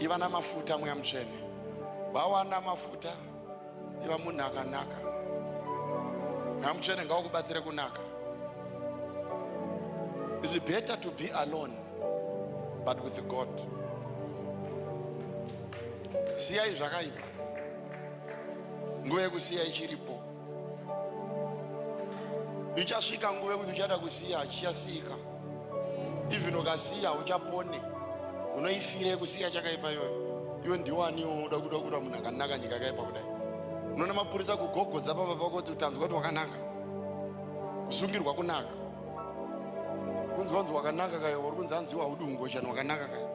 iva namafuta mweya mutsvene wawana mafuta iva munhu akanaka mweya mutsvene ngawakubatsire kunaka is it better to be alone but with god siyai zvakaipa nguva yekusiya ichiripo ichasvika nguva yekuti uchada kusiya hachichasiyika even ukasiya uchapone unoifire kusiya chakaipa iyoyo iwe ndiwaniwo unoda kuda kuda munhu akanaka nyika yakaipa kudai unoona mapurisa kugogodza pamba pako kuti utanzwa kuti wakanaka kusungirwa kunaka kunzi wanzi wakanaka kayo uri kunzi anziwa haudi ungoshani wakanaka kayo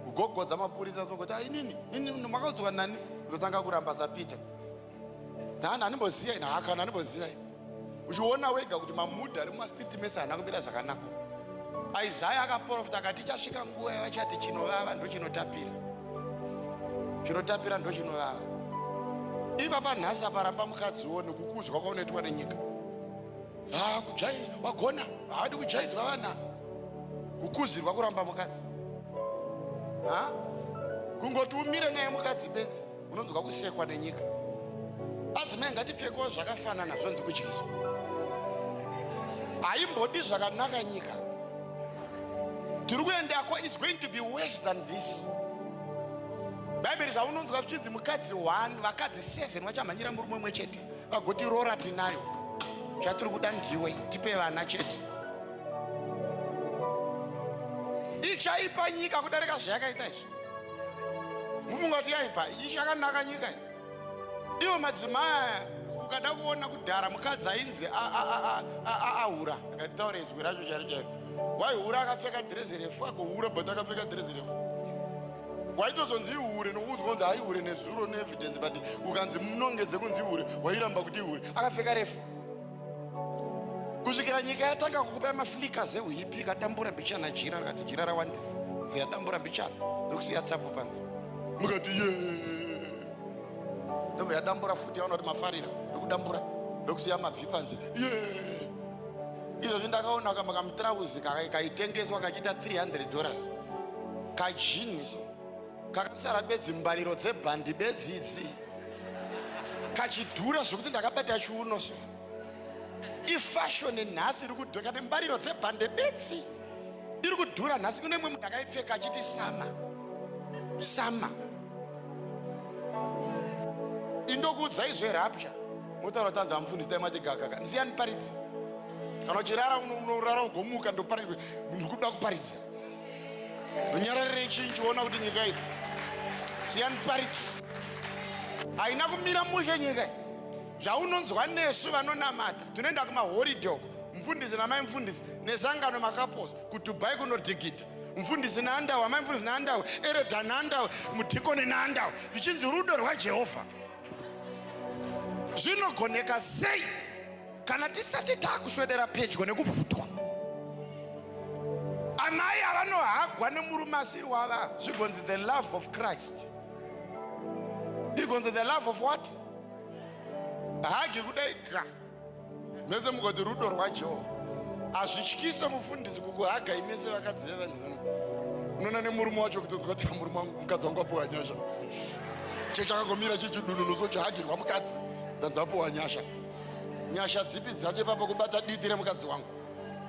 kugogodza mapurisa sokuti ainini ah, ini makaudzwa nani ndotanga kuramba sapita Nani animboziva ini haka animboziva ini. Uchiona wega kuti mamuda ari mumastreet mese haana kumira zvakanaka. Isaya akaprofita akati ichasvika nguva yavachati chinovava ndochinotapira. Chinotapira ndochinovava. Ipapa nhasi aparamba mukadzi wo nekukudzwa kwaunoitwa nenyika. Ah, kujai wagona haadi kujaidzwa vana. Kukuzirwa kuramba mukadzi. Ha? Kungoti umire naye mukadzi bedzi. unonzwa kusekwa nenyika adzimai ngatipfekewo zvakafanana zvonzi kudyiswa haimbodi zvakanaka nyika tiri kuendako its going to be worse than this bhaibheri zvaunonzwa zvichinzi mukadzi one vakadzi seven vachamhanyira murume umwe chete vagoti rora tinayo zvatiri kuda ndiwe tipe vana chete ichaipa nyika kudarika zvayakaita izvi mufunga kuti yaipa ichakanaka nyika iyi iwo madzimai aya ukada kuona kudhara mukadzi ainzi ahura akatitaura izwi racho chari chaio waihura akapfeka dhirezi refu agohura but akapfeka dhirezi refu waitozonzi ihure nokuunzwa kunzi haihure nezuro neevidence but ukanzi munongedze kunzi ihure wairamba kuti ihure akapfeka refu kusvikira nyika yatanga kukupai maflika zeuhipi ikadambura mbichana jira rikati jira rawandisa veyadambura mbichana ndokusiya tsapo panzi mukati ye ndobva yadambura futi yaona kuti mafarira ndokudambura ndokusiya mabvi panzi ye izvozvi ndakaona kamba kamutrauzi kaitengeswa kachiita 300 dollars kajini so kakasara bedzi mbariro dzebhandi bedzi idzi kachidhura zvekuti ndakabata chiuno so ifashoni nhasi iri kudhura kane mbariro dzebhande bedzi iri kudhura nhasi kune mwe munhu akaipfeka achiti sama sama indokuudzai zverapya motaura kuti anzi amufundisi dai mati gagaka ndisiyani paridzi kana uchirara unorara ugomuka ndoparidza ndikuda kuparidza nyararire chinji ona kuti nyika iyi siyani parichi haina kumira mushe nyika iyi zvaunonzwa nesu vanonamata tinoenda kumahoridhe uko mfundisi namai mfundisi nesangano makaposa kudubai kunodhigita mfundisi naandawa amai mfundisi naandawa eredha naandawa mudhikoni naandawa zvichinzi rudo rwajehovha zvinogoneka sei kana tisati taakuswedera pedyo nekubvutwa amai avanohagwa nemurume asiri wava zvigonzi the love of christ igonzi the love of what hagi kudai ga mese mugoti rudo rwajehovha hazvityise mufundisi kukuhaga imese vakadzi vevanhuno unoona nemurume wacho kutodzwa kuti murume wangu mukadzi wangu apuwa nyasha chechakagomira chechidununu so chahagirwa mukadzi dzanzi apuwa nyasha nyasha dzipi dzacho ipapo kubata diti remukadzi wangu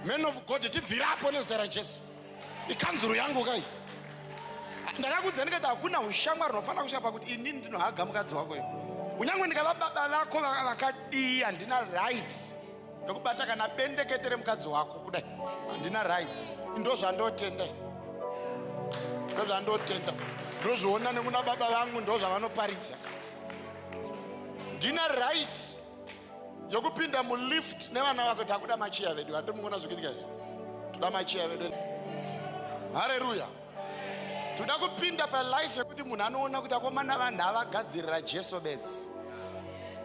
man of god tibvirapo nezita rajesu ikanzuru yangu kai ndakakudza ndikati hakuna ushamwari unofanira kusvika pakuti inini ndinohaga mukadzi wako iyo kunyange ndikava baba vako vakadii handina right yekubata kana bendekete remukadzi wako kudai handina right ndozvandotenda ndozvandotenda ndozviona nekuna baba vangu ndozvavanoparidza ndine right yokupinda mulift nevana vako takuda machiya vedu handi mukuona zvikuitika izvi toda machiya vedu hareruya toda kupinda palife yekuti munhu anoona kuti akomana vanhu avagadzirira jesu bedzi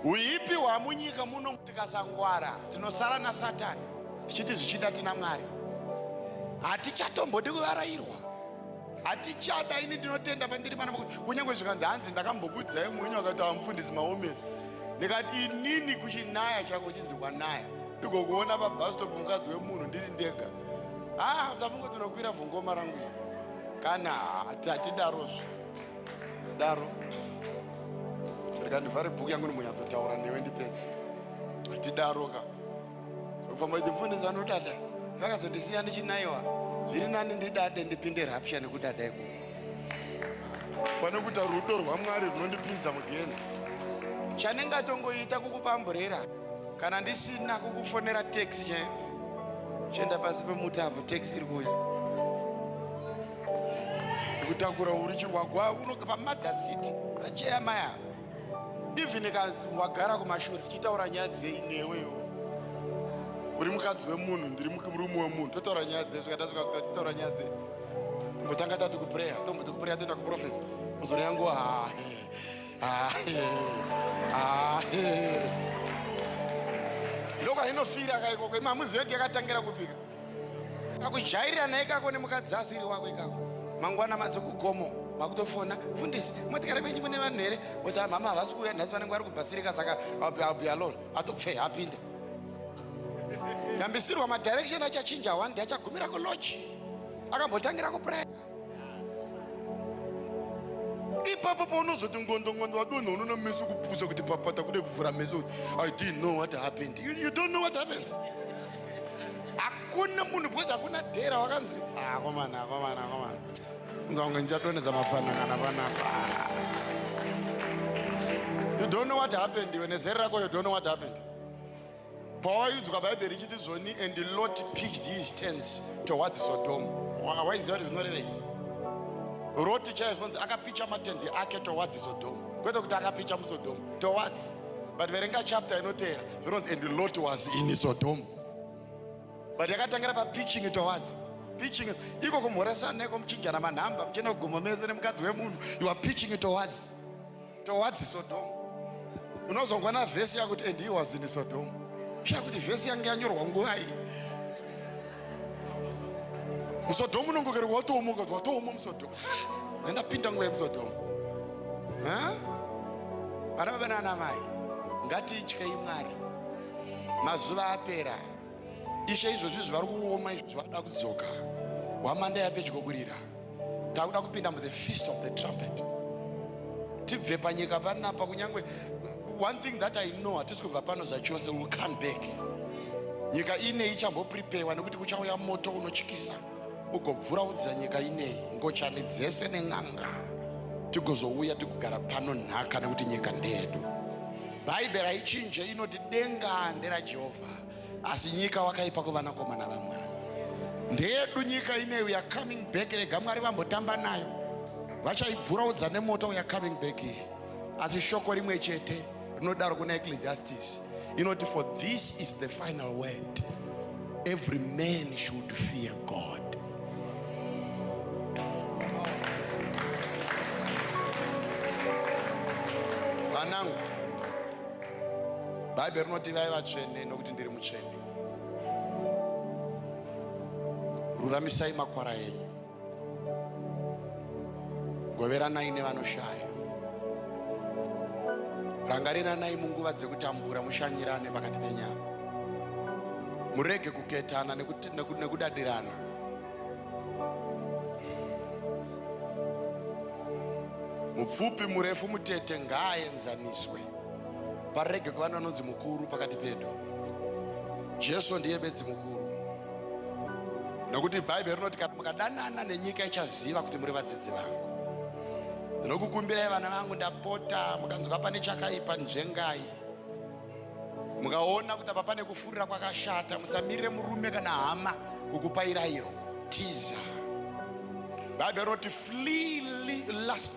uipi hwamunyika muno tikasangwara tinosara nasatani tichiti zvichida tina mwari hatichatombodi kuvarairwa hatichada ini ndinotenda pandiri pana kunyange zvikanzi hanzi ndakambokudzai mwenyu akati amufundisi maomesi ndikati inini kuchinaya chako chinzi kwanaya ndigokuona pabhastopu mukadzi wemunhu ndiri ndega haa ah, zafungo tinokwira vhongoma rangu iri kana hatidarozvo daro rikandivhare bhuku yangu ndimbonyatsotaura newe ndipedzi hatidaroka Pamwe mfundisi vanodada vakazondisiya ndichinaiwa zviri nani ndidade ndipinde rapture nekudada iko pane kuita rudo rwamwari runondipinza mugeni chanenge atongoita kukupamburira kana ndisina kukufonera taxi chaio chienda pasi pemuti apo taxi iri kuuya kutakura urichi wagwa unoga pamothers city vacheya maya even kanzi wagara kumashure tichitaura nyaya dzei newe iwo uri mukadzi wemunhu ndiri murume wemunhu totaura nyaya dzei svika tasvika kuta tichitaura nyaya dzei tombotanga tati kupreya tomboti kupreya toenda kuprofesa uzoreya nguva hahe hahe hahe ndokwainofira kaikoko imamuziyo yakatangira kupika kakujairirana ikako nemukadzi asiri wako ikako mangwana madzo kugomo makutofona fundisi motikare kwenyu mune vanhu here kuti amama havasi kuuya nhasi vanenge vari kubhasirika saka albi alone atopfe apinde yambisirwa madirection achachinja one day achagumira kulochi akambotangira kupraya ipapo paunozoti ngondo ngondo wadonha unono meso kupusa kuti papata kude kuvhura meso kuti i didn't know what happened you, you don't know what happened hakuna munhu because hakuna dhera wakanzi akomana ah, akomana akomana unza kunge ndichadonedza mapanangana panapa you don't know what happened iwe nezere rako you don't know what happened pawaiudzwa bhaibheri ichiti zoni and lot picked his tens towards sodom waiziva kuti zvinorevei roti chaiye zvinonzi akapicha matendi ake towards sodom kwete kuti akapicha musodom towards but verenga chapter inoteera zvinonzi and lot was in sodom but yakatangira papiching towards piching iko kumhoresana neko muchinjana manhamba muchienda kugomo mese nemukadzi wemunhu you are piching towards towards Sodom unozongwa na verse yakuti and he was in Sodom sha kuti verse yange yanyorwa nguva iyi musodhomu unongokerwa watooma ukati watooma musodhomu nendapinda nguva yemusodhomu vana baba nana mai ngatityei mwari mazuva apera Ishe izvozvi zvivari kuoma izvo zvavada kudzoka hwamanda yapedyo kurira takuda kupinda muthe feast of the trumpet tibve panyika panapa kunyange one thing that i know hatisi kubva pano zvachose will come back nyika inei ichambopripewa nekuti kuchauya moto unochikisa ugobvura udza nyika inei ngochani dzese nen'anga tigozouya tikugara pano nhaka nekuti nyika ndeyedu bhaibheri haichinje inoti denga nderajehovha asi nyika wakaipa kuvanakomana vamwari ndeyedu nyika ine we are coming back rega mwari vambotamba nayo vachaibvuraudza nemoto we are coming back here asi shoko rimwe chete rinodaro kuna ecclesiastis inoti for this is the final word every man should fear god vanangu bhaibheri rinoti ivai vatsvene nokuti ndiri mutsvene ruramisai makwara enyu goveranai nevanoshaya rangariranai munguva dzekutambura mushanyirane pakati penyama murege kuketana nekudadirana mupfupi murefu mutete ngaaenzaniswe parege kuva neanonzi mukuru pakati pedu jesu ndiye bedzi mukuru nokuti bhaibheri rinoti kana mukadanana nenyika ichaziva kuti muri vadzidzi vangu ndinokukumbirai vana vangu ndapota mukanzwa pane chakaipa njengai mukaona kuti apa pane kufurira kwakashata musamirire murume kana hama kukupairairo tiza bhaibheri rinoti flee last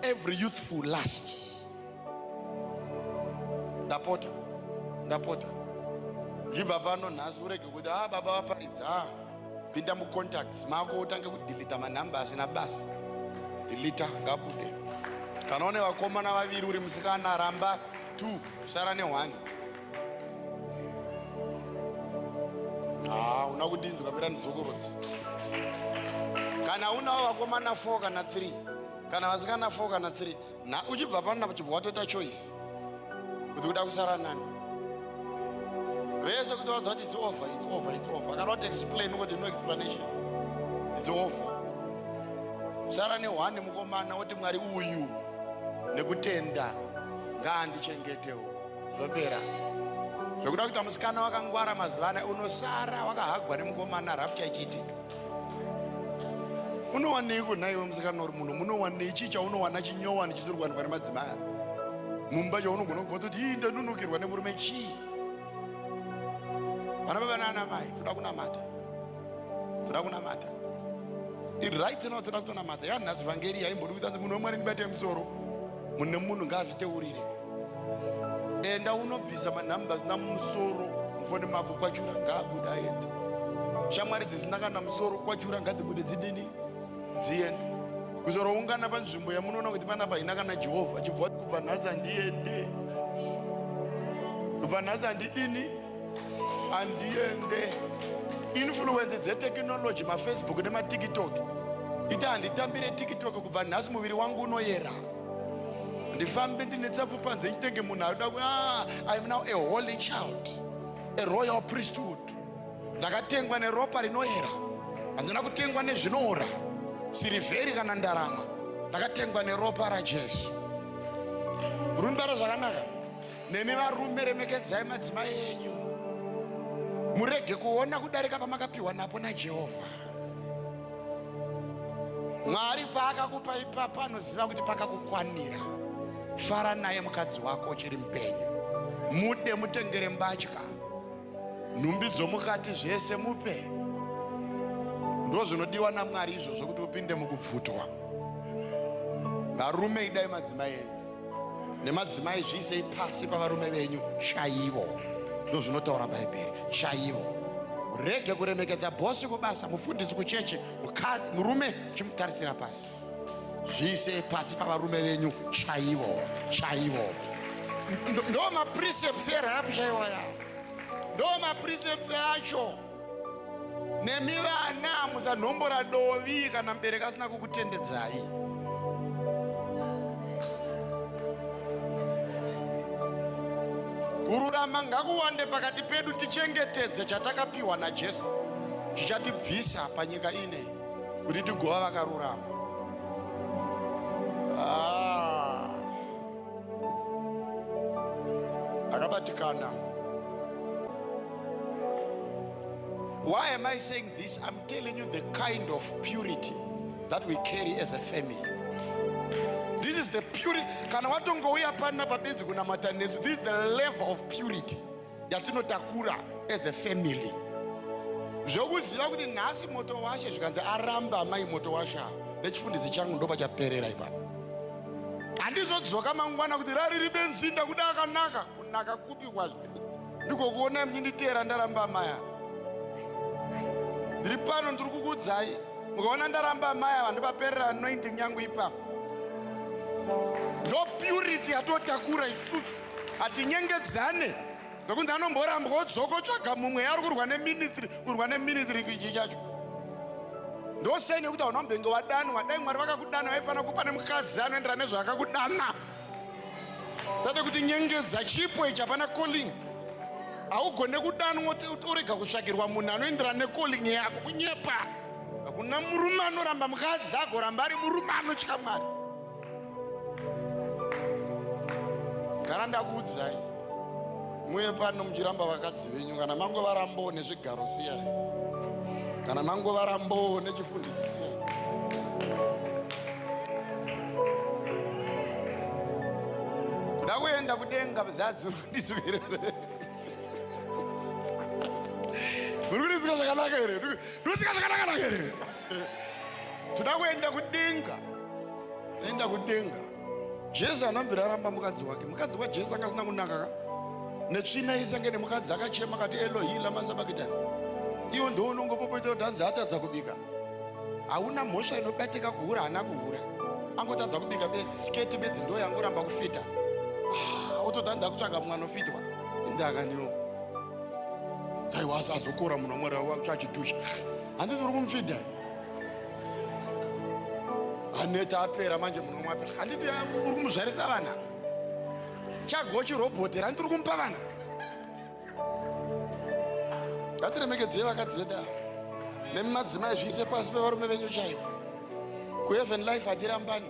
every youthful last ndapota ndapota ndibva pano nhasi urege kuti a ah, baba vaparidza a ah, pinda mucontacts mako utange kudilita manhamba asina basa dilita ngabude kana une vakomana vaviri uri musikana ramba t sara nehwani haa ah, una kundinzwa pera ndizokorodzi kana unawo vakomana 4 kana 3 kana vasikana 4 kana 3 na uchibva pana uchibva watoita choice kuti kuda kusara nani vese kuti vaza kuti it's over it's over it's over kana wati explain kuti no explanation it's over kusara nehwani mukomana woti mwari uyu nekutenda ngaandichengete uku zvopera zvekuda kuita musikana wakangwara mazuva anaya unosara wakahagwa nemukomana rapcha ichiitika unowaneiko nhaiwe musikana uri munhu munowanei chii chaunowana chinyowani chisiri kuwanikwa nemadzimai mumba chaunogona kubva toti ii ndanunukirwa nemurume chii vana baba naana mai toda kunamata toda kunamata iright now toda kutonamata yanhasi vhangeri yaimbodi kuita munhu wemwari ndibate musoro mune munhu ngaazviteurire enda unobvisa manumbers namusoro mufoni mako kwachura ngaabuda aende shamwari dzisina kana musoro kwachura ngadzibude dzidini dziende kuzoroungana panzvimbo yamunoona kuti panapa haina kana jehovha chibva kubva nhasi handiende kubva nhasi handidini handiende influence dzetekinoloji mafacebook nematiktok ita handitambire tiktok kubva nhasi muviri wangu unoyera ndifambe ndine tsafu panze nditenge munhu aida ah, iam now a holy child a royal priesthood ndakatengwa neropa rinoera handina kutengwa nezvinoora sirivheri kana ndarama ndakatengwa neropa rajesu rundaro zvakanaka nemi varume remekedzai madzimai enyu murege kuona kudarika pamakapiwa napo najehovha Mwari paakakupa ipapa anoziva kuti pakakukwanira. Fara naye mukadzi wako uchiri mupenyu, mude, mutengere mbatya, nhumbi dzomukati, zvese mupe. Ndozvinodiwa naMwari izvozvo kuti upinde mukubvutwa. Varume idai madzimai enyu. nemadzimai zviisei pasi pavarume venyu chaivo ndozvinotaura bhaibheri chaivo rege kuremekedza bhosi kubasa mufundisi kucheche murume chimutarisira pasi zviisei pasi pavarume venyu chaivo chaivo ndo maprecepts erap chaivo yavo ndo maprecepts acho nemi vana musanhombora dovi kana mubereki asina kukutendedzai kururama ngakuwande pakati pedu tichengetedze chatakapiwa najesu zvichatibvisa panyika ine kuti tigova vakarurama ah. akabatikana why am i saying this i'm telling you the kind of purity that we carry as a family this is the purity kana watongouya pana pabenzi kunamata nesu this is the level of purity yatinotakura as a family zvokuziva kuti nhasi moto washe zvikanzi aramba amai moto washe nechifundisi changu ndoba chaperera ipapa handizodzoka mangwana kuti rariri benzi ndakuda akanaka kunaka kupi kwazvo ndikokuona mnyinditeera ndaramba amaya ndiri pano ndiri kukudzai mukaona ndaramba amai ava ndopaperera anointing yangu ipapo ndo purity yatotakura isusu hatinyengedzane zvekunzi anomborambwa odzoka otsvaga mumwe yaari kurwa neministry kurwa neministry kuchi chacho ndosei nekuti hauna mbenge wadanwa dai mwari vakakudana vaifanira kupa nemukadzi anoendera nezvaakakudana sade kuti nyengedza chipo ichi hapana calling haugone kudanwa orega kutsvagirwa munhu anoendera necalling yako kunyepa hakuna murume anoramba mukadzi agoramba ari murume anotya mwari gara ndakuudzai muye pano muchiramba vakadzi venyu kana mango varambo nezvigaro siyai kana mango varambo nechifundisi siyai kuda kuenda kudenga mzadzi uri kundisuvirere uri kundisika zvakanaka here uri kundisika zvakanaka naka here toda kuenda kudenga aenda kudenga jesu anambira aramba mukadzi wake mukadzi wajesu anga asina kunaka ka netsvina isi ange nemukadzi akachema kati elohi lamasabakitani iwo ndo unongopopoita kuti anzi atadza kubika hauna mhosva inobatika kuhura haana kuhura angotadza kubika bedzi siketi bedzi ndo yangoramba kufita ah, otoda nda kutsvaga mumwe anofitwa indakanio taiwa azokora munhu wamwari wachidusha handiti uri kumfidha aneta apera manje muno mwapera handiti uri kumuzvarisa vana chagochi robhotera handiti uri kumupa vana ngatiremekedzei vakadzi vedu ava nemi madzimai zviise pasi pevarume venyu chaivo kuheaven life hatirambani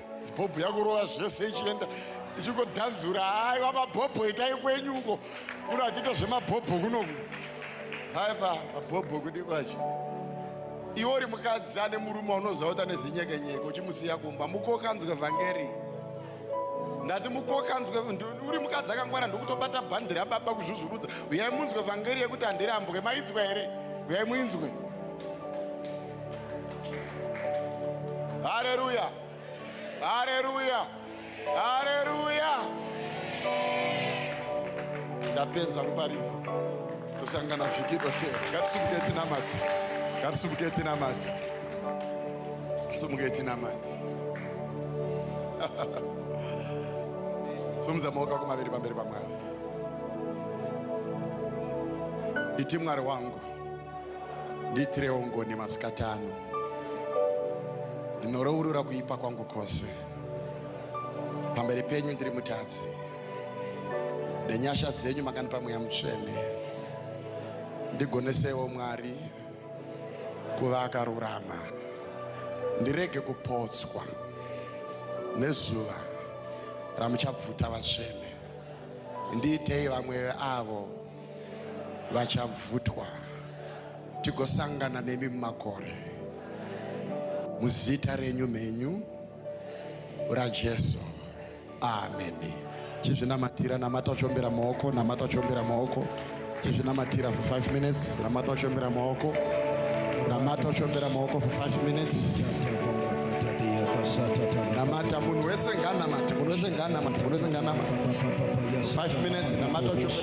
zibhobho yakurova zvese ichienda ichingodhanzura aiwa mabhobho itai kwenyu uko kuno achiita zvemabhobho kunoku aipa mabhobho kudi kwacho iwe uri mukadzi ane murume unoziva kuti ane zinyekenyeke uchimusiya kumba mukokanzwe vhangeri ndati mukokanzwe uri mukadzi akangwara ndokutobata bhandi rababa kuzvuzvurudza uyai munzwe vhangeri yekuti handirambwe mainzwa here uyai muinzwe Haleluya, haleluya, haleluya. Ndapedza kuparidza kusangana vhiki dotera. Ngatisimuke tinamati, ngatisimuke tinamati, ngatisimuke tinamati. Sumudza maoko ako maviri pamberi paMwari. Iti Mwari wangu Ndiitirewo ngoni masikati ano. Ndinorourura kuipa kwangu kwose. Pamberi penyu ndiri mutadzi. Nenyasha dzenyu makandipa mweya mutsvene. Ndigonesewo Mwari kuva akarurama. Ndirege kupotswa nezuva ramuchabvuta vatsvene. Ndiitei vamwe avo vachabvutwa tigosangana nemi mumakore muzita renyu mhenyu rajesu ameni chizvinamatira namata uchombera maoko namata uchombera maoko chizvinamatira for 5 minutes namata uchombera maoko namata uchombera maoko for 5 minutes namata munhu wese nganamati munhu wese nganamati munhu wese nganamati 5 minutes namata uchombera